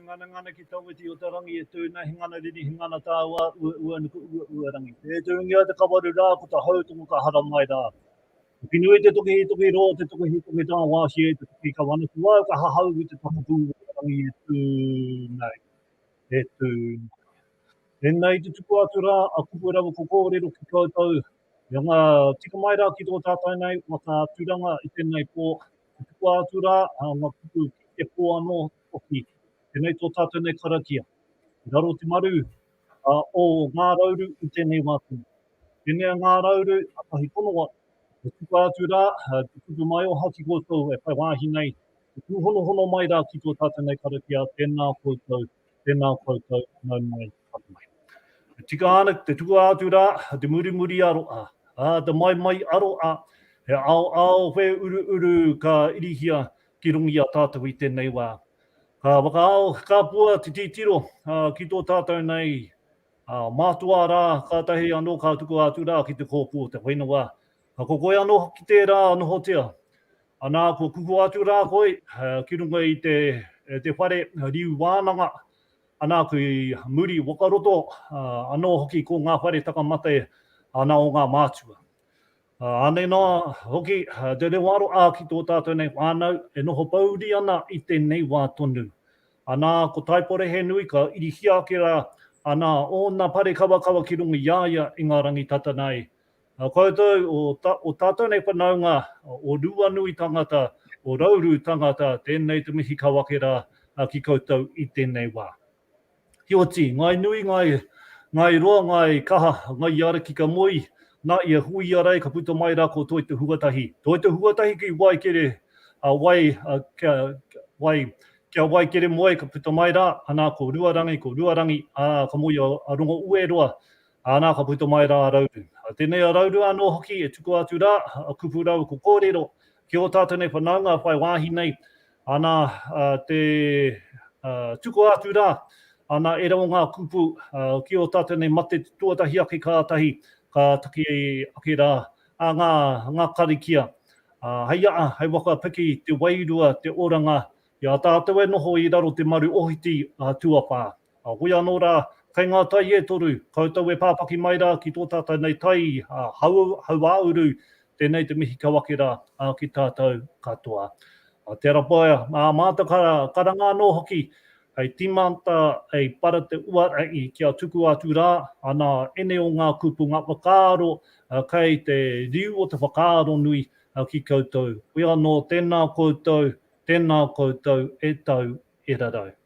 Pūnganangana ki Tawhiti o te rangi e tūna he ngana riri he ngana tāua ua ua nuku ua ua rangi e tūngia te kawaru rā ko ta hau tuku ka hara mai rā Ko ki nui te toki i toki rō te toki he toki tā wāhi e te toki ka wana ki wau ka hahau ki te whakapū o te rangi e tū nei e tū nei. Tēnā i te tupu atu rā a Kupe rawa ko kōrero ki koutou, i anga tika mai rā ki tō tātou nei waka tūranga i tēnei pō, i tukua atu rā ngā kupu ki te pō anō hoki, tēnei tō tātou nei karakia. I raro te maru o Ngā Rauru i tēnei wā tonu. Pēnei a Ngā Rauru, a Tahi Konowa, e tukua atu rā te kupu maioha ki koutou e whai wāhi nei, e tūhonohono mai rā ki tō tātou nei karakia, tēnā koutou, Tēnā koutou, nau mai, haere mai. E tika ana ki te tukua atu rā, te murimuri aroa, ā, te maimai aroa, he aoao, he uruuru ka irihia ki runga i a tātou i tēnei wā. Ka whakaao, ka pua te titiro ki tō tātou nei mātua rā, kātahi anō ka tukua atu rā ki te kōpū o te whenua, Ko koe anō hoki tērā nohotia. Anā, kua kuhu atu rā koe ki runga i te whare riu wānanga, anā, ki muri waka roto anō hoki ko ngā whare takamate ana o ngā mātua. Anei noa hoki te reo aroā ki tō tātou nei whānau e noho pouri ana i tēnei wā tonu. Anā, ko Taipore he nui ka irihia ake rā, anā, ōna parekawakawa ki runga i a ia i ngā rangi tata nei, Nā koutou, o tātou nei whanaunga, o Ruanui tangata, o Rauru tangata, tēnei te mihi ka wake rā ki koutou i tēnei wā. Heoti, ngāi nui, ngāi roa, ngāi kaha, ngāi i a reki ka moe, nā, i a hui i a rei ka puta mai rā ko Toi Te Huatahi. Toi Te Huatahi ki wai kere wai, kia wai, kia wai kere moe ka puta mai rā, anā ko Ruarangi, ko Ruarangi, ā, ka moe i a Rongo-ue-roa, Ana ka puta mai ra a Rauru. A tenei a Rauru ano hoki e tukua atu ra, a kupu rau ko korero ki o tatou nei whanaunga whai wahi nei, ana te tukua atu ra, ana e rawa nga kupu ki o tatou nei mate tuatahi ake katahi ka taki ake ra a nga karikia. Hei aa, hei waka piki te wairua te oranga i a tatou e noho i raro te maru ohiti a tuawha. A koia anō rā, kei ngā tai e toru, koutou e pāpaki mai rā ki tō tātou nei tai hauāuru, tēnei te mihi kau ake rā ki tātou katoa. A Te Arapaea, ā mātou ka karanga anō hoki, hei tīmata, hei para te uarahi kia tukua atu rā ana ēnei o ngā kupunga whakaaro kei te riu o te whakaaro nui ki koutou. Koia anō, tēnā koutou, tēnā koutou e tau e rarau.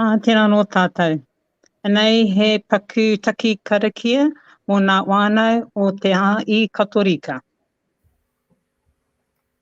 Ā, tēnā anō tātou. Anei he paku taki karakia mō ngā whānau o te ā-i Katorika.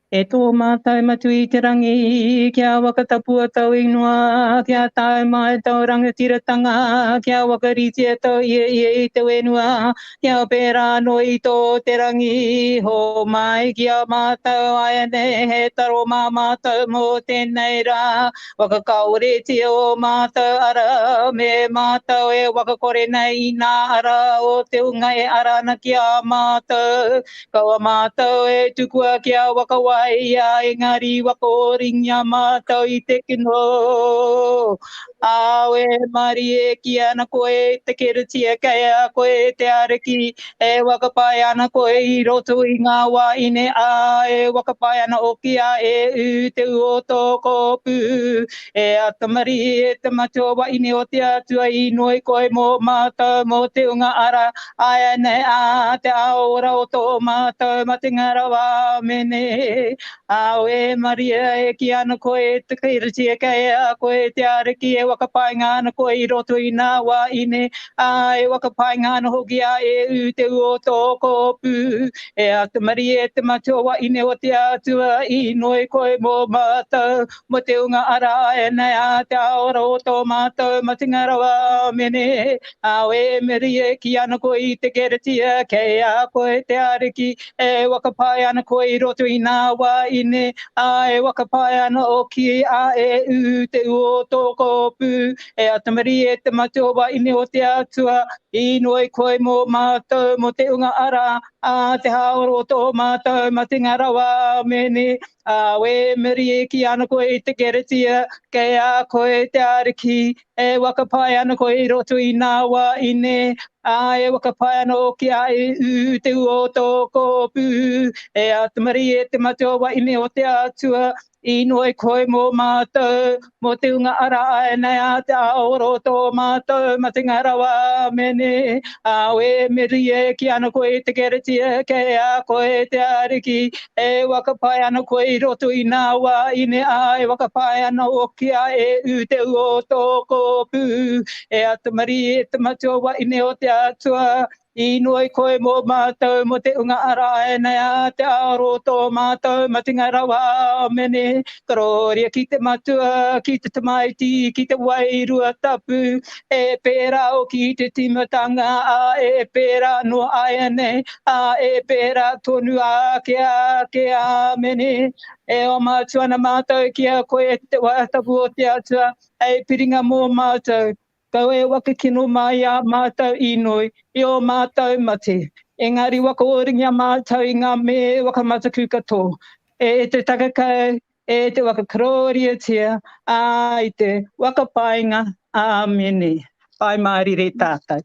E tō mātou Matua i te Rangi, kia whakatapua tōu ingoa, kia tae mai tōu rangatiratanga, kia whakaritea tōu Ieie i te whenua, kia pērā anō i tō te rangi. Hōmai ki a mātou, āianei he taro mā mātou mō tēnei rā, Waka kaoretia o matou ara me matou e waka kore nei i na ara o te unga e ara ana ki a matou. Kaua matou e tukua ki a waka waia engari waka oringia matou i te kino. Ao e marie ki ana koe te keretia kei a koe te ariki E whakapae ana koe i roto i ngā wā ine, ā, e whakapae ana hoki a ēu te ū o tō kōpū. E Atamari, e te matua waeine o te Atua, inoi koe mō mātou mō te hunga ara āianei a te ao ora o tō mātou matenga rawa. Āmene. Kāo e Maria e kī ana koe e te Kīritia kei a koe e te Ariki e whakapainga ana koe i roto i nā wā ine, ā, e whakapainga ana hoki a Eū te ū o tō kōpū. E āta marie te matua wā ine o te Atua i inoi koe mō mātou, mō te ūnga ara āianei ā te āora o tō mātou matenga rawa. Āmene. Kāo e Maria e kī ana koe i te Kīritia kei a koe te Ariki e whakapae ana koe i roto i nā wā ine, ā, e whakapae ana ōki a e ū te ū o tō kōpū, e atamari e te matua wā ine o te Atua, inoi koe mō mātou mō te unga ara, ā, te hāoro o tō mātou matenga rawa, āmene, ā, wēmeri e kī ana koe i te keretia, kei a koe te Ariki, E whakapae ana koe i roto i nā wā ine, ā, e whakapae ana hoki a Ihu, te ua o tō kōpū. E āta marie e te matua wahine o te Atua, inoi koe mō mātou, mō te hunga ara āianei a te ao ro tō mātou matenga rawa. Āmene. Ā, e merie ki ana koe i te keretia, kei a koe te Ariki, E whakapae ana koe i roto i nā wā ine ā, e whakapae ana hoki a e ū te ua o tō kōpū, e Atamari, e te matua wahine o te Atua, i inoi i koe mō mātou mō te unga ara āianei ā te aro o tō mātou matenga rawa, āmene, Karōria ki te Matua, ki te Tamaiti, ki te Wairua Tapu, E pērā hoki i te tīmatanga, ā, e pērā noa āianei, ā, e pērā tonu ake ake. Āmene. E oma atu ana mātou ki a koe, e te Waea Tapu o te Atua, hei piringa mō mātou. Kaua e waka kino mai i ā mātou inoi, i ō mātou mate. Engari waka oringia mātou i ngā mea e waka mataku katoa, e te takakau, E te waka kororiotia, a i te waka painga, Amene. Whai Mārire tātou.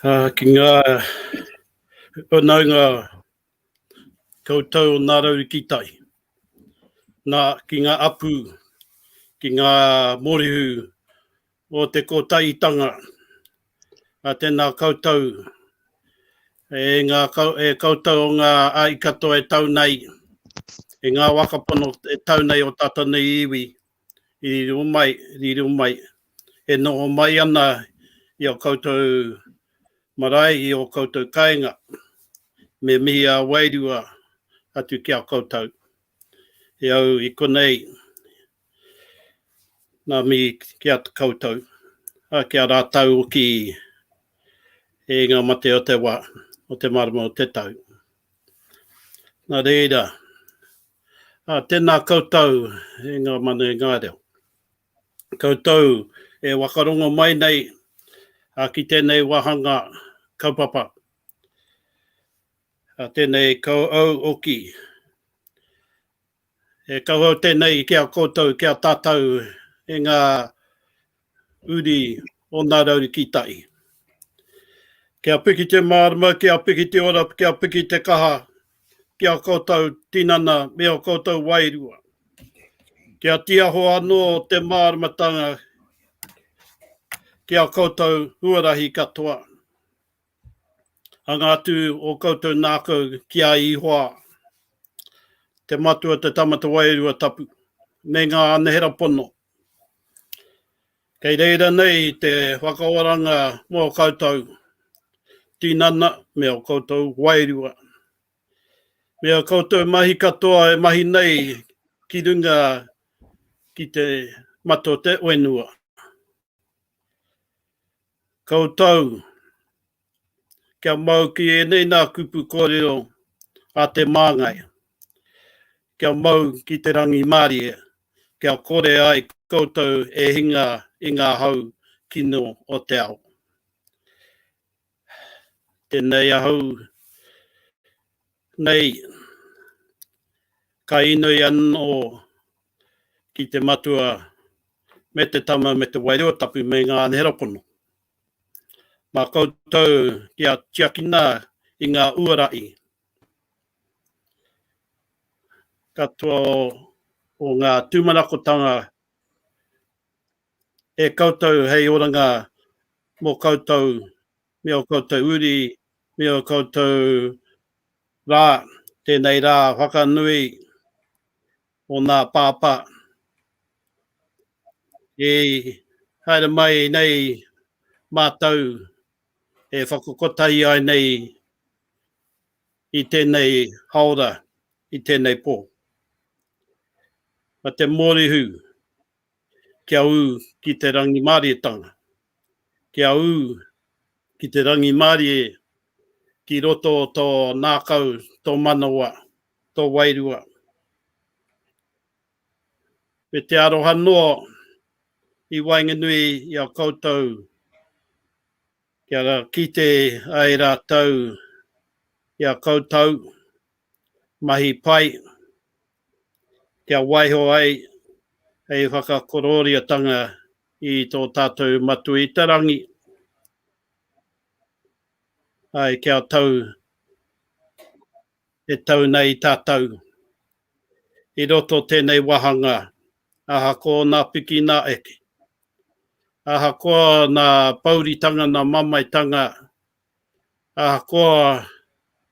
Ā, ki ngā whanaunga koutou o Ngā Rau ki Tai. Nā, ki ngā apu, ki ngā mōrehu o te Kotahitanga, a tena koutou, e nga e koutou o nga ahi katoa e tau nei, e nga wa ka pono e tau nei o tatou nei iwi, i riro mai, riro mai, e noho mai ana i a koutou marae, i o koutou kainga, me mihi a wairua atu ki a koutou, e au i konei, Ngā mihi ki a koutou, ki a rātou hoki i ngā mate o te wā, o te marama o te tau. Nā reira, tēnā koutou e ngā manu, e ngā reo. Koutou e whakarongo mai nei ki tēnei wāhanga kaupapa, tēnei kauau oki. E kauhau tenei ki a koutou, ki a tatau e nga uri o na rauru ki tai. Kia piki te marama, kia piki te ora, kia piki te kaha ki a koutou tinana me o koutou wairua. Kia tiaho ano te maramatanga ki a koutou huarahi katoa. Hanga atu o koutou nākau ki a Ihoa, te Matua te Tama te Wairua Tapu, me ngā anahera pono. Kei reira nei te whakaoranga mō koutou tinana me o koutou wairua, me o koutou mahi katoa e mahi nei ki runga ki te mata o te whenua. Koutou, kia mau ki ēnei nā kupu kōrero a te Māngai, kia mau ki te rangimārie, kia kore ai koutou e hinga i ngā hau kino o te ao. Tēnei ahau Nei, ka inoi anō ki te matua me te tama me te wairua tapu me ngā anehera pono. Mā koutou kia tiakina i ngā uara i. Katoa o ngā tūmanakotanga e koutou hei oranga mō koutou me ō koutou uri, me ō koutou rā, tēnei rā whakanui o nā Pāpā, i haere mai nei mātou e whakakotahi ai nei i tēnei haora, i tēnei pō. Ma te Mōrihū, Kia ū ki te rangimārietanga. Kia ū ki te rangimārie ki roto o tō nākau, tō manawa, tō wairua. Me te aroha noa i waenganui i a koutou kia kite ai rātou i a koutou mahi pai kia waiho ai hei whakakorōriatanga i tō tātou Matua i te Rangi, āe, kia tau e tau nei tātou i roto tēnei wāhanga ahakoa ōna piki nā eke, ahakoa nā pōuritanga nā mamaetanga, ahakoa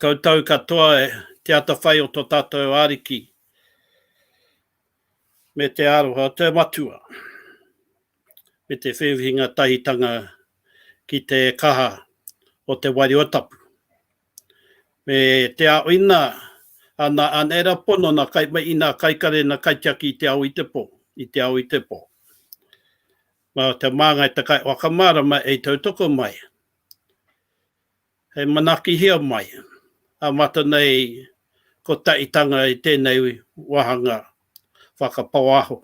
Koutou katoa te atawhai o to tatou Ariki me te aroha o te Matua, me te whiwhinga tahitanga ki te kaha o te Wairua Tapu, me te aoina a na Anera pono, na Kaimai, na Kaikare, na Kaitiaki i te ao i te po, i te ao i te po. Ma te Mangai te Kaiwhakamārama e i tautoko mai. Hei manakihia mai, amata nei ko Taitanga i tēnei wāhanga whakapāoaho,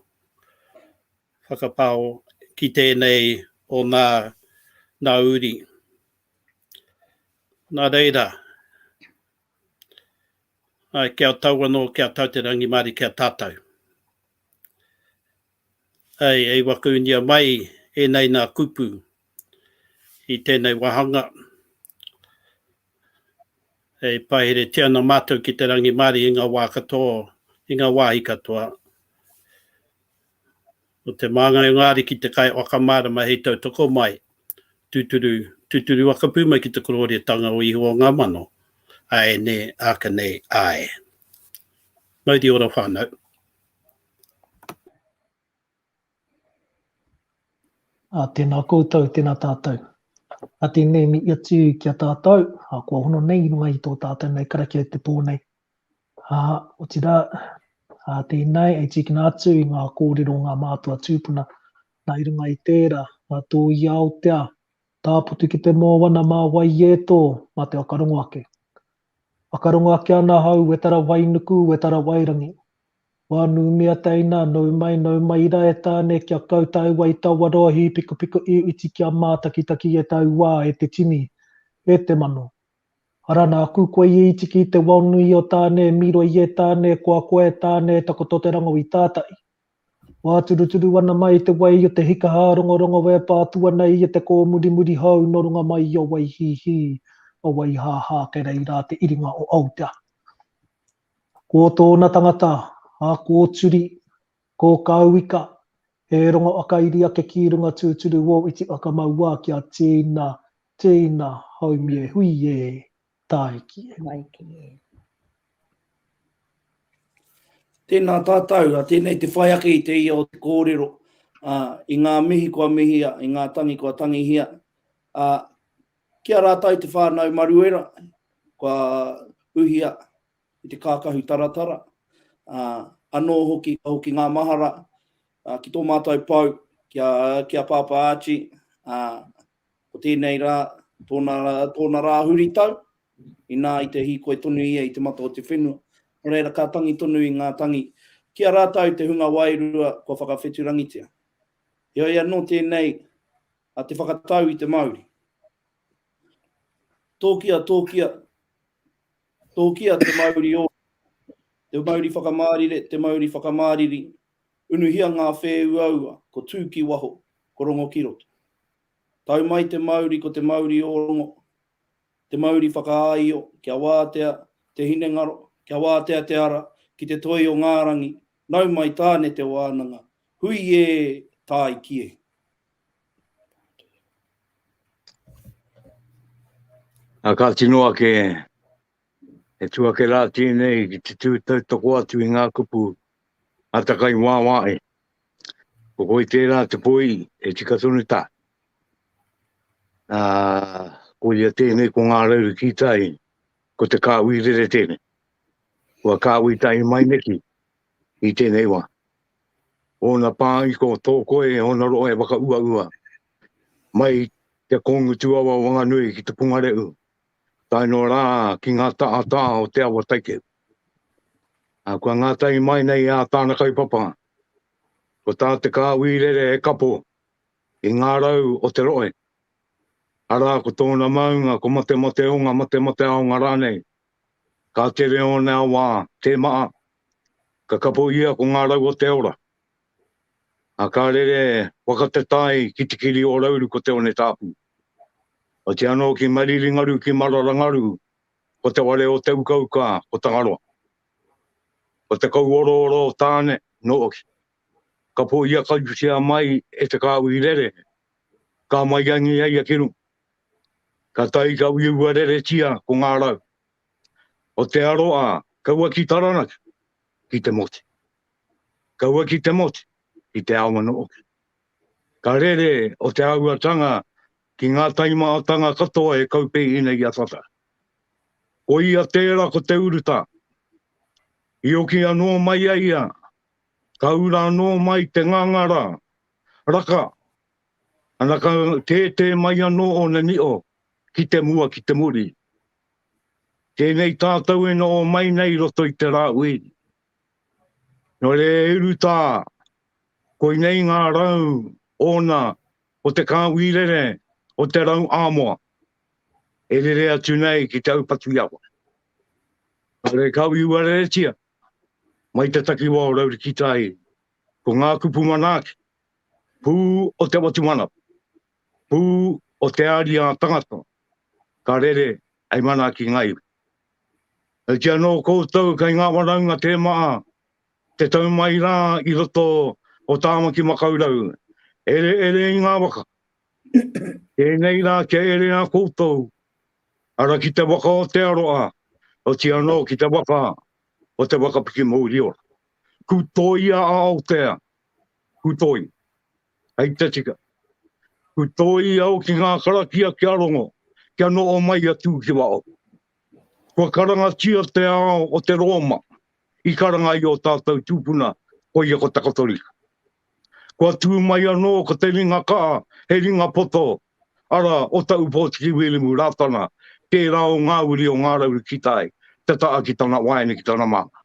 whakapāo ki tēnei o nā nā uri. Nā reira, āe ki a tau anō, ki a tau te rangimārie, ki a tātau. Hei, hei whakaunia mai ēnei nā kupu i tēnei wāhanga. E paheretia ana mātou ki te rangimārie i ngā wā katoa, i ngā wāhi katoa. Ko te māngai o ngā ariki te kai whakamārama hei tautoko mai, tūturu, tūturu whakapū mai ki te kororētanga o Ihowa o ngā mano. Āe nē, āka nei, āe. Mauri ora whānau. Ā, tēnā koutou, tēnā tātou. Ā, tēnei me ia tū ki a tātou, ā, kua hono nei i runga i tō tātou nei karakia i te pō nei. Ā, otirā, ā, tēnei e tīkina atu i ngā kōrero o ngā mātua tūpuna, nā, i runga i tērā, nā tō i Aotea, tāputu ki te mōana mā Waieto, mā te whakarongo ake. Whakarongo ake ana ahau wetara wai nuku wetara wai rangi. Wā nū mea teina nau mai nau mai ira e Tāne kia kau tae wai taua roa hīpikupiko i uti kia mātakitaki e tau wā e te tini e te mano. Ara nāku koe i itiki i te wao nui o Tāne e miro i e Tāne koa koa e Tāne e takoto te rango i tātai. Wāturuturu ana mai i te wai o te hika hārongorongo e pā atu ana i te kōmurimuri hou nō runga mai i a Waihīhī, a Waihāhā kei reira te iringa o Aotearoa. Ko tōna tangata, a Kōturi, ko Kauika, he rongo a Kairiakekī runga tūturu wō iti a Kamauā kia tīna, tīna, haumie, hui ē! Tāiki e. Tāiki e. Tēnā tātou, a tēnei te whai ake i te ia o te kōrero, a, i ngā mihi kua mihia, i ngā tangi kua tangihia. A, ki a rātou te whānau maruera, kua uhia i te kākahu taratara. A, anō hoki, ka hoki ngā mahara a, ki tō mātou pau, ki a, ki a Pāpā Archie, a, Ko tēnei rā, tōna, tōna rā huritau, inā i te hīkoi tonu ia i te mata o te whenua. Nō reira, ka tangi tonu i ngā tangi ki a rātou te hunga wairua kua whakawheturangitia. Heoi anō tēnei a te whakatau i te mauri. Tōkia, tōkia, tōkia te mauri o, te mauri whakamārire, te mauri whakamāriri, Unuhia ngā whēuaua, ko tū ki waho, ko rongo ki roto. Tau mai te mauri ko te mauri o rongo, te mauri whakaāio, kia wātea te hinengaro, kia wātea te ara ki te toi o ngā rangi, nau mai Tāne te wānanga, hui ē, tāi ki ē. Ā, ka tino ake. He tū ake rā tēnei ki te tū tautoko atu i ngā kupu a takai wāwā e. Ko koi tērā te poi e tika tonu tā. Ā, ko ia tēnei ko ngā rauru ki tai, ko te kāui rere tēnei. Kua kāui tai mai neki i tēnei wā. Ōna pā i ko tō koe, ōna roa e waka ua ua. Mai te kōngutu awa wanganui ki te pungareu, tae noa rā ki ngā tahatā o te awa taikeu. A kua ngātahi mai nei ā tāna kaupapa, ko tā te kāwī rere he kapo i ngā rau o te rohe, arā ko tōna maunga ko Matemateonga, Matemateaonga rānei, ka tere ōna awa tē maa, ka kapo ia ko ngā rau o te ora. A ka rere whakatatai ki te kiri o Rauru ko Te One Tāpū. Oati anō ki Mariringaru, ki Mararangaru, ko te ware o te ukauka, ko Tangaroa. Ko te kauorooro o Tāne, nō Oki. Ka pōia kautia mai e te kāuhi rere, ka maiangi a ia ki runga. Ka tae ka uiua reretia ko ngā rau. O te aro a, kaua ki Taranaki, ki te moti. Kaua ki te moti, ki te awa nō Oki. Ka rere o te āhuatanga ki ngā taimahatanga katoa e kaupēhina i a Tata. Ko ia tērā ko te urutā. I oki anō mai a ia, ka ura anō mai te ngangara, raka, ana ka tētē mai anō ōna nio ki te mua ki te muri. Tēnei tātou e noho mai nei roto i te rā uiri. Nō reira e Ruta, koinei ngā rau ōna o te kāhui rere o te rau āmoa e rere atu nei ki te aupatu-i-awa. Kāore e kāhui uareretia mai te takiwā o Raurikitāhiri, ko ngā kupu manaaki, pū o te watu manawa, pū o te ariā tangata ka rere hei manaaki ngaiwi. Ki anō koutou kei ngā waraunga tē maha te tau mai rā i roto o Tāmaki Makaurau, ere ere i ngā waka. Tēnei rā kia ere a koutou, ara ki te waka o Te Aroa, oti anō ki te waka o Te Waka Piki Mouriora. Kū tōia a Aotea, kū tōia. Hei te tika. Ku toi au ki ngā karakia kia rongo, kia noho mai atu ki waho. Kua karangatia te ao o te Rōma i karanga i o tātou tūpuna, koia ko te Katorika. Kua tū mai anō ko te ringa kaha, he ringa poto, ara o ta Upōtiki Wilimu Rātana, tērā o ngā uri o Ngā Raurikita ai, te taha ki tana waeine ki tana māmā.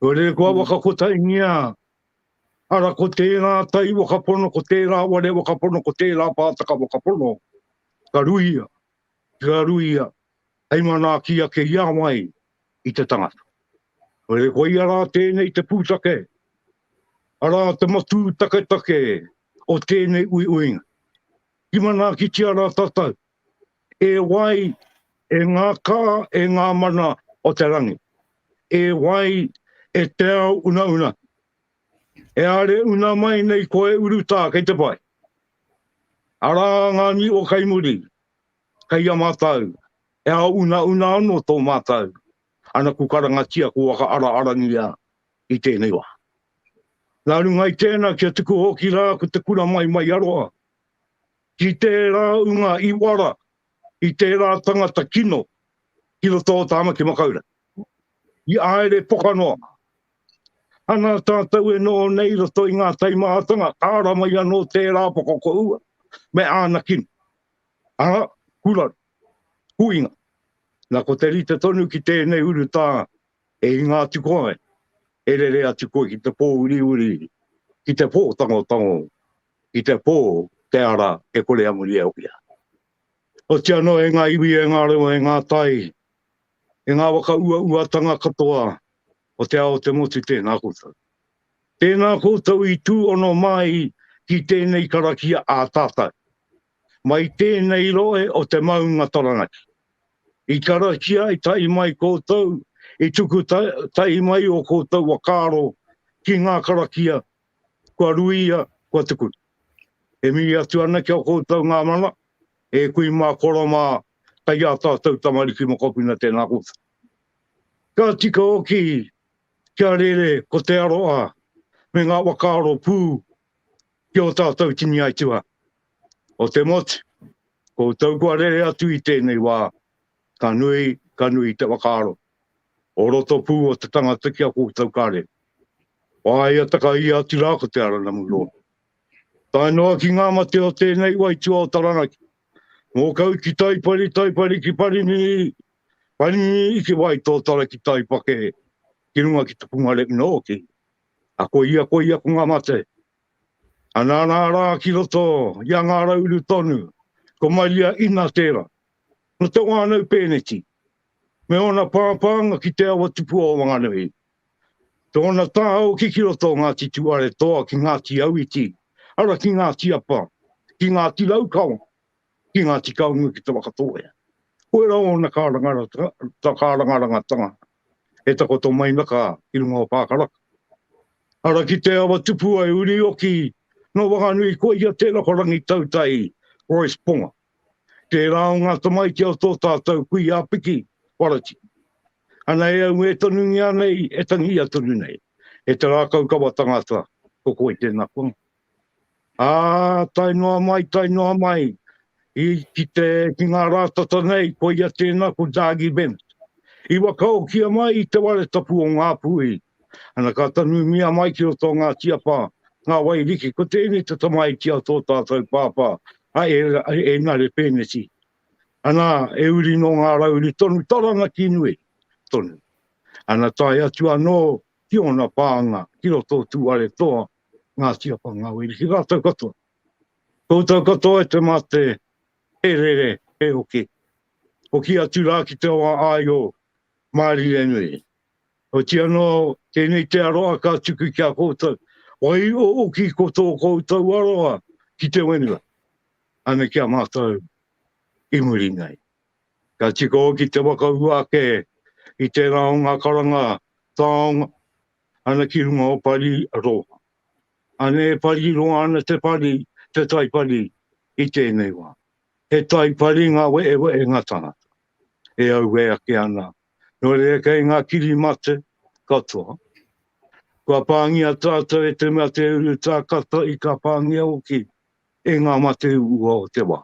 Kua rere kua waka kotaingia Ara, ko tērā tai wakapono, ko tērā ware wakapono, ko tērā pātaka wakapono, ka ruia, ka ruia, hei manaaki ake i a wai, i te tangata. Kore, koia rā tēnei te pūtake, arā te matū taketake o tēnei uiuinga. Ki manaakitia rā tātou, E wai, e ngā kā, e ngā mana o te rangi. E wai, e te ao unauna. E are una mai nei koe urutā kei te pai. Arā ngā niwa kai muri, kai a mātou. E ao unauna anō tō mātou anaku karangatia ko waka ara arangia i tēnei wā. Nā runga i tēnā kia tuku hoki rā ko te kura mai mai aroha. Ki tērā unga i wara, i tērā tangata kino ki roto o Tāmaki Makaurau. I āere poka noa. Ana tātou e noho nei i roto i ngā taimahatanga, āra mai anō tērā poka ko Ua me āna kino. Ara, kuraru, huinga. Na, ko te rite tonu ki tēnei urutā, e hinga atu koe, e rere atu koe ki te pōuriuri, ki te pōtangotango i te pō, te ara, e kore a muri e hoki ana. Oti anō e ngā iwi, e ngā reo, e ngā tai, e ngā waka uauatanga katoa o te ao o te motu tēnā koutou. Tēnā koutou i tū ono māi ki tēnei karakia ā tātou, mai tēnei rohe o te maunga Taranaki. I karakia tahi mai koutou, i tuku tahi mai o koutou wakaaro ki ngā karakia Kua ruia, kua tuku. E mihi atu ana ki a koutou nga mana, e kui ma koro ma kai a tatou tamariki mokopuna tena koutou. Ka tika hoki kia rere ko te aroha me nga whakaaro pu ki o tatou tini aituha. O te motu, koutou kua rere atu i tenei wa, ka nui, ka nui te whakaaro. o roto pū o te tangata ki a koutou kare. Whāia taka ia atu rā ko te Aranamu Lord. Tae noa ki ngā mate o tēnei waitua o Taranaki, mō kau ki Taipari, Taipari ki Parinini, Parinini ki Waitōtara ki Taipake, ki runga ki te punga rep nōki. A ko ia, ko ia, ko ngā mate. A nā nā rā ki roto, ia ngā rauru tonu, ko Maria ina tērā. No te wānau pēneti, me ōna pāpānga ki te awa tupua o Wanganui. Tōna tāhau ki ki roto o Ngāti Tuaretoa ki Ngāti Auiti, ara ki Ngāti Apa, ki Ngāti Raukawa, ki Ngāti Kaunui ki Te Whakatōhea. Koira ōna kārangarangatanga e takoto mai na ka i runga o Pākaraka. Ara ki te awa tupua e Urioki, no Wanganui koia tērā ko Rangitautai Royce Ponga. Tērā o ngā tamaiti o tō tātou kuia piki, Warati. Ana e au e tonungia nei, e tangia tonu nei, e te rākaukawa tangata, ko koe tēnā kua. Ā, tae noa mai, tae noa mai, i, ki te, ki ngā rā tata nei, koia tēnā ko Dargie Bennett. I wakaokia mai i te ware tapu o Ngāpuhi, Ana ka tanumia mai ki roto o Ngāti Apa ngā wai riki, ko tēnei te tamaiti a tō tātou pāpā, a Enare Pēneti. Ana, e uri nō ngā rau uri tonu Taranaki nui tonu. Ana tae atu anō ki ōna pānga ki roto o Tūwharetoa, Ngāti Apa, ngā wai riki rātou katoa. Koutou katoa e te mate, he rere, he hoki. Hoki atu rā ki te wā āio, Mārie nui. Otiia anō, tēnei te aroha ka tuku ki a koutou, waihoki ko tō koutou aroha ki te whenua, ana ki a mātou i muri nei. Ka tika hoki te whakaū ake i tērā o ngā karanga taonga ana ki runga o Pari Roa. Ane e pari roa ana te pari, te tai pari i tēnei wā. He tai pari ngā wehewehenga tangata e auē ake ana Nō reira kei ngā kiri mate katoa. Kua pāngia tātou e te mea te uru tākata i ka pāngia hoki e ngā mate uua o te wā.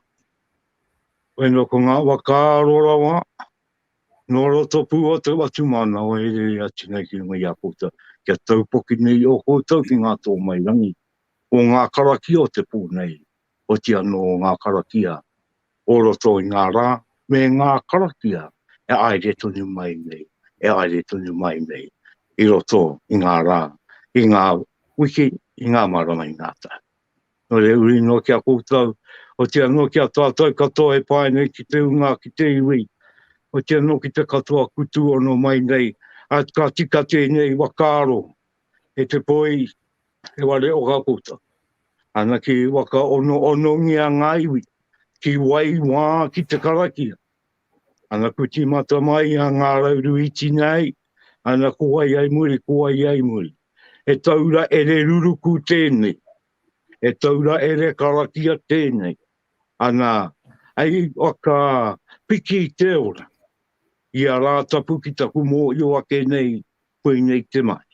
Waino ko ngā whakaaro rawa nō roto pū o te whatumanawa e rere atu nei ki runga i a koutou. Kia taupoki nei o koutou ki ngā tōmairangi o ngā karakia o te pō nei oti anō ngā karakia o roto i ngā rā, me ngā karakia e āire tonu mai nei, e āire tonu mai nei i roto i ngā rā, i ngā wiki, i ngā marama, i ngā tau. Nō reira, uri noa ki a koutou, oti anō ki a tātou katoa e pā nei ki te ūnga, ki te iwi, oti anō ki te katoa kutū ono mai nei, ā, ka tika tēnei whakaaro, e te poi e wale o ka puta. Ana ki waka ono onongia ngā iwi, ki wai wā ki te karakia. Ana ku timata mai a ngā rauru i tina ai, ana ko ai ai muri, ko ai ai muri. E taura ere ruruku tēnei, e taura ere karakia tēnei. Ana, ai waka piki te ora, i a rātapu ki taku mōhio ake nei, koinei te mahi.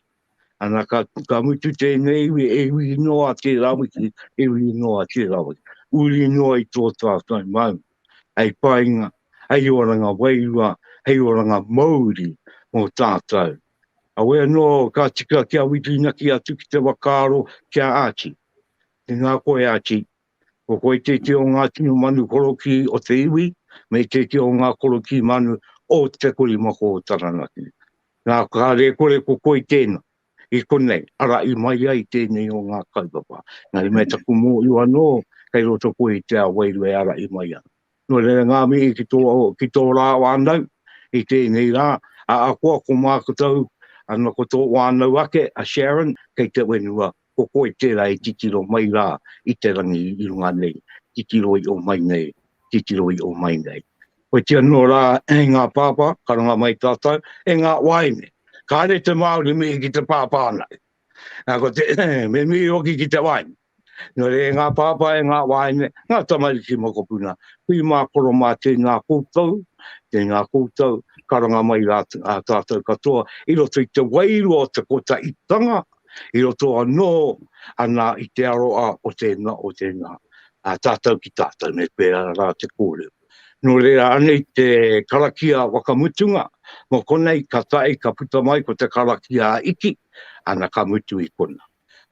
Ana ka, ka mutu tēnei iwi, e iwi noa tērā wiki, e iwi noa tērā wiki. Uri noa i tō tātou maunga, hei painga, hei oranga wairua, hei oranga mauri mō tātou. Awe anō ka tika ki a Whituinaki atu ki te whakaaro ki a Archie. Tēnā koe Archie, Ko koe tētia o ngā tino manu korokī o te iwi, me tētia o ngā korokī manu o Te Korimako o Taranaki. Nā, ka rēkore ko koe tēnā, i konei, arā, i mai ai tēnei o ngā kaupapa. Nā, i mea taku mōu anō, kei roto koe i te ao wairu e ara i mai ana. Nō reira, ngā mihi ki tō, ki tō rā wānau i tēnei rā, a akoa ko māku tau, ana ko tō wānau ake, a Sharon, kei te whenua ko koe tērā e titiro mai rā i te rangi i runga nei, titiro i o mai nei, titiro i o mai nei. Koiti anō rā, e ngā pāpā, ka runga mai tātou, e ngā wāine, kāre te Māori mihi ki te pāpā ana. Nā, ko te, me mihi hoki ki te wāine. Nō re, e ngā pāpā, e ngā wāine, ngā tamariki mokopuna, hui mā koro mā tēnā koutou, tēnā koutou, ka runga mai rā tātou katoa, i roto i te wairua o te kotaitanga i roto anō anā i te aroa o tēnā, o tēnā, a tātou ki tātou, me pērā rā te kōrero. Nō reira, anei te karakia whakamutunga, mō konei ka tae, ka puta mai ko te karakia a Iki, ana ka mutu i kona.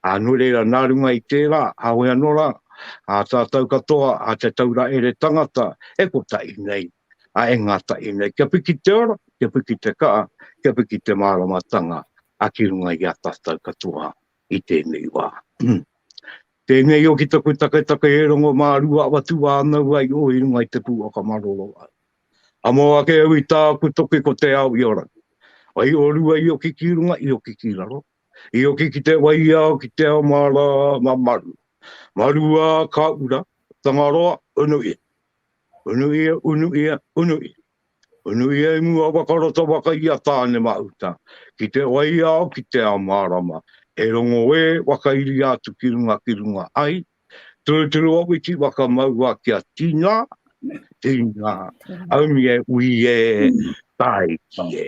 A nō reira, nā runga i tērā, hawe anō rā, a tātou katoa, a te taura ere tangata, e kotahi nei, a e ngātahi nei, kia piki te ora, kia piki te kaha, kia piki te māramatanga, a ki runga i a tatou katoa i tenei wa. Tenei oki taku taketake e rongo ma rua awa tu anau ai o i runga i te pu o ka maroro au. Amo ake au i taku toki ko te ao i ora. Ai o rua i oki ki runga i oki ki raro, i oki ki te waiao ki te ao ma ra ma maru. Maru a ka ura, Tangaroa, unu i. Unu ia, unu ia, unu ia. Unu ia i mua waka roto waka i a Tāne-mahuta, ki te waiao, ki te ao mārama, he rongo ē whakairia atu ki runga, ki runga ai, turuturu a witi waka mauā kia tīnā, tīnā, aumi e, ui e, tāiki e.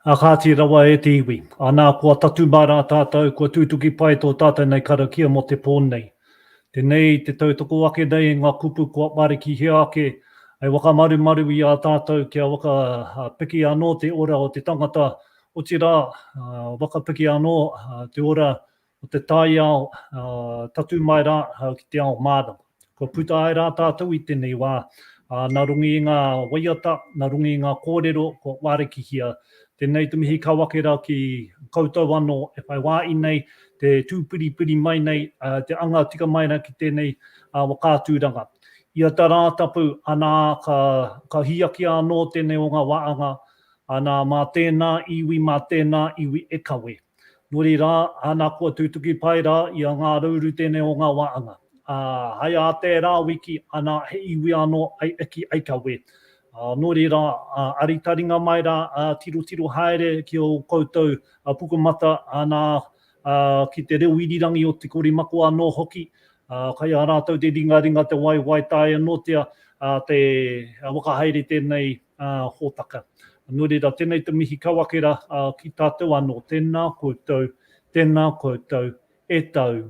Ā kāti rawa e te iwi, anā kua tatū mā rā tātou, kua tūtuki pai tō tātou nei karakia mō te pō nei. Tenei te tautoko ake nei nga kupu kua marikihia ake hai wakamarumaru i a tatou kia waka piki ano te ora o te tangata, otira waka piki ano te ora o te taiao tatu mai ra ki te ao marama. Kua puta ai ra tatou i tenei wa, na rongi i nga waiata, na rongi i nga korero kua warikihia Tenei te mihi kau ake ra ki koutou ano e whai waaii nei te tuupiripiri mai nei te anga tika mai ra ki tenei wakaaturanga. Ia ta Raatapu ana ka hiiakia ano tenei o nga waanga ana ma tena iwi ma tena iwi e kawe. Muri rā, ana kua tūtuki pai rā i a Ngā Rūru tēnei o ngā wāanga. Ā, hai ā tērā wiki, ana he iwi anō ai eki ai ka wē. Ā, nō reira, ā, aritaringa mai rā, ā, tirotiro haere ki ō koutou pukumata, ana, ā, ki te reo irirangi o Te Korimako anō hoki, ā, kai a rātou te ringaringa te waiwai tae anōtia, ā, te whakahaere tēnei hōtaka. Nō reira, tēnei te mihi kau ake rā ki tātou anō, tēnā koutou, tēnā koutou e tau,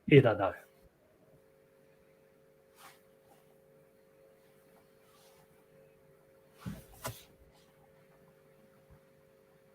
e rarau.